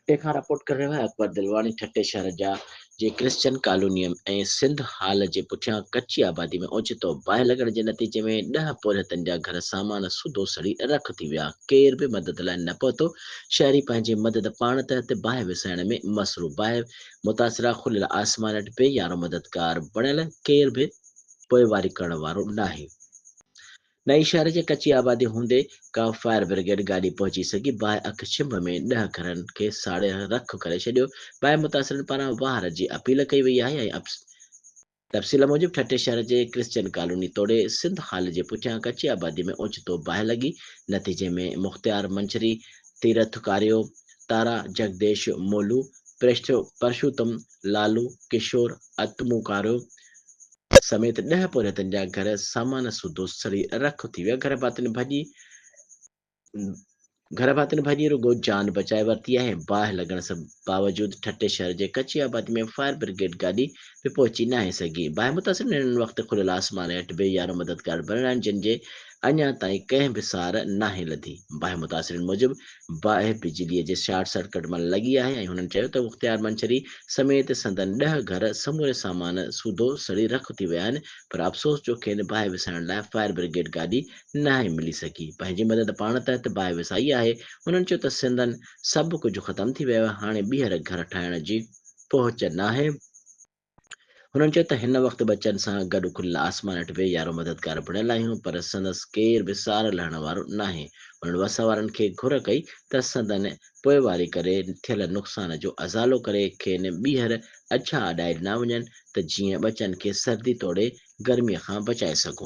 ٺٽي کان رپورٽ ڪري رهيو آهي اڪبر دلواڻي ٺٽي شهر جا جي ڪرسچن ڪالونيء ۽ سنڌ هال جي پٺيان ڪچي آبادي ۾ اوچتو باهه لڳڻ جي نتيجي ۾ ڏهه پورهيتن جا گهر سامان سوڌو سڙي رک ٿي ويا ڪير به مدد لاء نه پهتو شهري پنهنجي مدد پاڻ تحت باهه وسائڻ ۾ مصروف باهه متاثرا کليل آسمان هيٺ بي يارو مددگار بڻيل ڪير به پوئواري ڪرڻ وارو ناهي نئين شهر جي ڪچي آبادي هوندي ڪا فائر برگيڊ گاڏي پهچي سگهي باهه اک ڇنڀ ۾ ڏهه گهرن کي ساڙي رک ڪري ڇڏيو، باهه متاثرن پاران واهر جي اپيل ڪئي وئي آهي ۽ تفصيل موجب ٺٽي شهر جي ڪرسچن ڪالوني توڙي سنڌ هال جي پٺيان ڪچي آبادي ۾ اوچتو باهه لڳي نتيجي ۾ مختيار منڇري، تيرٿ ڪاريو، تارا، جگديش، مولو، پرشوتم، لالو، ڪشور، اتمو ڪاريو، سميت ڏهه پورهيتن جا گهر سامان سوڌو سڙي رک ٿي ويا گهر ڀاتين ڀڄي گهر ڀاتين ڀڄي رڳو جان بچائي ورتي آهي باهه لڳڻ سب باوجود ٺٽي شهر جي ڪچي آبادي ۾ فائر برگيڊ گاڏي به پهچي ناهي سگهي باهه متاثرن هن وقت کليل آسمان هيٺ بي يارو مددگار بڻراين جن جي اڃا تائين ڪنهن به سار ناهي لڌي. باهه متاثرين موجب باهه بجلي جي شارٽ سرڪٽ مان لڳي آهي ۽ هنن چيو ته مختيار منڇري سميت سندن ڏهه گهر سموري سامان سوڌو سڙي رک ٿي ويا آهن پر افسوس جو کين باهه وسائڻ لاء فائر برگيڊ گاڏي ناهي ملي سگهي پنهنجي مدد پاڻ تحت باهه وسائي آهي هنن چيو ته سندن سڀ ڪجهه ختم ٿي ويو آهي هاڻي ٻيهر گهر ٺاهڻ جي پهچ ناهي. هنن چيو ته هن وقت ٻچن سان گڏ کليل آسمان هيٺ ويهي يارو مددگار بڻيل آهيون پر سندس ڪير به سار لهڻ وارو ناهي. هنن وس وارن کي گهر ڪئي ته سندن پوئواري ڪري ٿيل نقصان جو ازالو ڪري کين ٻيهر اجها اڏائي ڏنا وڃن ته جيئن ٻچن کي سردي توڙي گرمي کان بچائي سگهون.